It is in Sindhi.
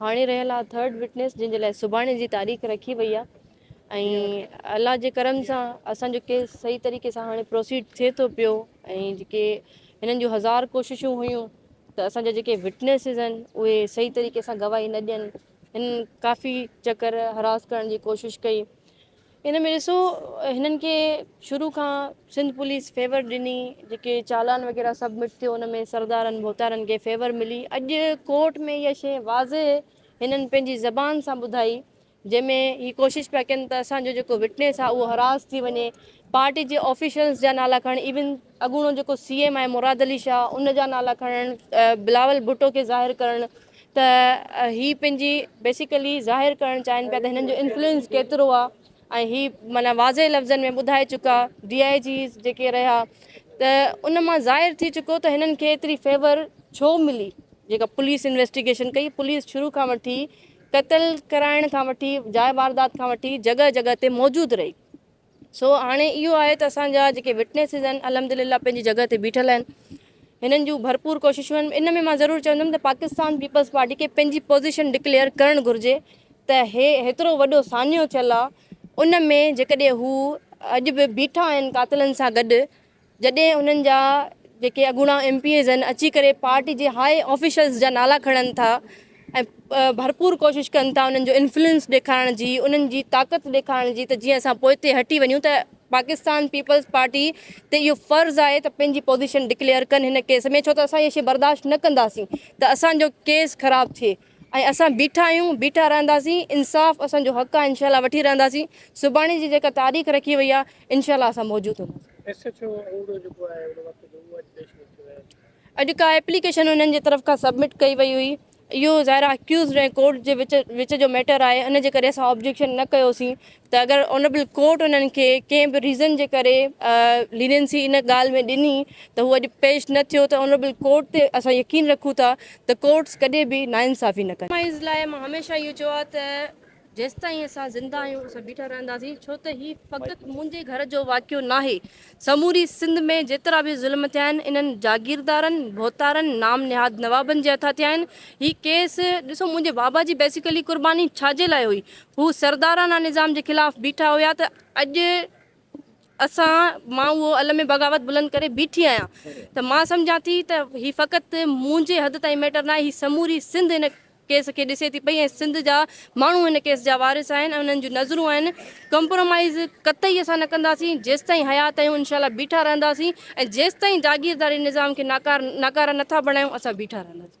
هاڻي رهيل آهي ٿرڊ وٽنيس جنهن جي لاء سڀاڻي جي تاريخ رکي وئي آهي ۽ الله جي ڪرم سان اسان جو ڪيس صحيح طريقي سان هاڻي پروسيڊ ٿئي ٿو پيو ۽ جيڪي هنن جون هزار ڪوششون هيون ته اسان جا جيڪي وٽنيسز آهن اهي صحيح طريقي سان گواهي نه ڏين هن ڪافي چڪر حراس ڪرڻ جي ڪوشش ڪئي ان ۾ ڏسو هنن کي شروع کان سنڌ پوليس فيور ڏني جيڪي چالان وغيره سبمٽ ٿيو ان ۾ سردارن ڀوتارن کي فيور ملي اڄ ڪورٽ ۾ اها شي واضح هنن پنهنجي زبان سان ٻڌائي جنهن ۾ هي ڪوشش پيا ڪن ته اسان جو جيڪو وٽنيس آهي اهو حراس ٿي وڃي پارٽي جي آفيشلز جا نالا کڻ ايون اڳوڻو جيڪو سي ايم آهي مراد علي شاهه ان جا نالا کڻڻ بلاول ڀٽو کي ظاهر ڪرڻ ته هي پنهنجي بيسيڪلي ظاهر ڪرڻ چاهين پيا ته هنن جو انفلوئنس ڪيترو آ ۽ هي معنيٰ واضح لفظن ۾ ٻڌائي چڪا ڊي آء جيز جيڪي رهيا ته ان مان ظاهر ٿي چڪو ته هنن کي ايتري فيور ڇو ملي جيڪا پوليس انويسٽيگيشن ڪئي پوليس شروع کان وٺي قتل ڪرائڻ کان وٺي جاء واردات کان وٺي جڳهه جڳهه تي موجود رهي سو هاڻي اهو آهي ته اسان جا جيڪي وٽنيسز آهن الحمدلله پنهنجي جڳهه تي بيٺل آهن هنن جون ڀرپور ڪوششون آهن ان ۾ مان ضرور چوندم ته پاڪستان پيپلز پارٽي کي پنهنجي پوزيشن ڊڪليئر ڪرڻ گهرجي ته هي هيترو وڏو سانحو ٿيل آهي ان ۾ جيڪڏهن هو اڄ به بيٺا آهن قاتلن سان گڏ جڏهن انهن جا جيڪي اڳوڻا ايم پي ايز آهن اچي ڪري پارٽي جي هاء آفيشلز جا نالا کڻن ٿا ۽ ڀرپور ڪوشش ڪن ٿا انهن جو انفلوئنس ڏيکارڻ جي انهن جي طاقت ڏيکارڻ جي ته جيئن اسان پوئتي هٽي وڃون ته پاڪستان پيپلز پارٽي تي اهو فرض آهي ته پنهنجي پوزيشن ڊڪليئر ڪن هن ڪيس ۾ ڇو ته اسان اهي شي برداشت نه ڪنداسين ته اسان جو ڪيس خراب ٿئي ۽ اسان بيٺا آهيون بيٺا رهنداسين انصاف اسان جو حق آهي انشاء الله وٺي رهنداسين سڀاڻي جي جيڪا تاريخ رکي وئي آهي انشاء الله اسان موجود هونداسين. ايس ايڇ او انگڙو جيڪو آهي ان وقت جو اهو اڄ پيش نه ٿيو آهي. اڄ ڪا ايپليڪيشن انهن جي طرف کان سبمٽ ڪئي وئي هئي اهو ظاهر آهي اڪيوزڊ ۽ ڪورٽ جي وچ جو ميٽر آهي ان جي ڪري اسان آبجيڪشن نه ڪيوسين ته اگر آنريبل ڪورٽ انهن کي ڪنهن به ريزن جي ڪري لينينسي ان ڳالهه ۾ ڏني ته هو اڄ پيش نه ٿيو ته آنريبل ڪورٽ تي اسان يقين رکون ٿا ته ڪورٽس ڪڏهن به ناانصافي نه ڪندا. مائيز لاء مان هميشه اهو چيو آهي ته جيستائين اسان زنده آهيون اسان بيٺا رهنداسين ڇو ته هي فقط منهنجي گهر جو واقعو ناهي. سموري سنڌ ۾ جيترا به ظلم ٿيا آهن انهن جاگيردارن، ڀوتارن، نام نهاد نوابن جي هٿان ٿيا آهن. هي ڪيس ڏسو منهنجي بابا جي بيسيڪلي قرباني ڇا جي لاء هئي؟ هو سردارانه نظام جي خلاف بيٺا هيا ته اڄ اسان مان اهو علم بغاوت بلند ڪري بيٺي آهيان ته مان سمجهان ٿي ته هي فقط منهنجي حد تائين ميٽر ناهي هي سموري سنڌ ان ڪيس کي ڏسي ٿي پئي ۽ سنڌ جا ماڻهو هن ڪيس جا وارث آهن ۽ انهن جون نظرون آهن ڪمپرومائيز قطعي اسان نه ڪنداسين جيستائين حيات آهيون انشاء الله بيٺا رهنداسين ۽ جيستائين جاگيرداري نظام کي ناڪار ناڪاره نه ٿا بڻايون اسان بيٺا رهنداسين.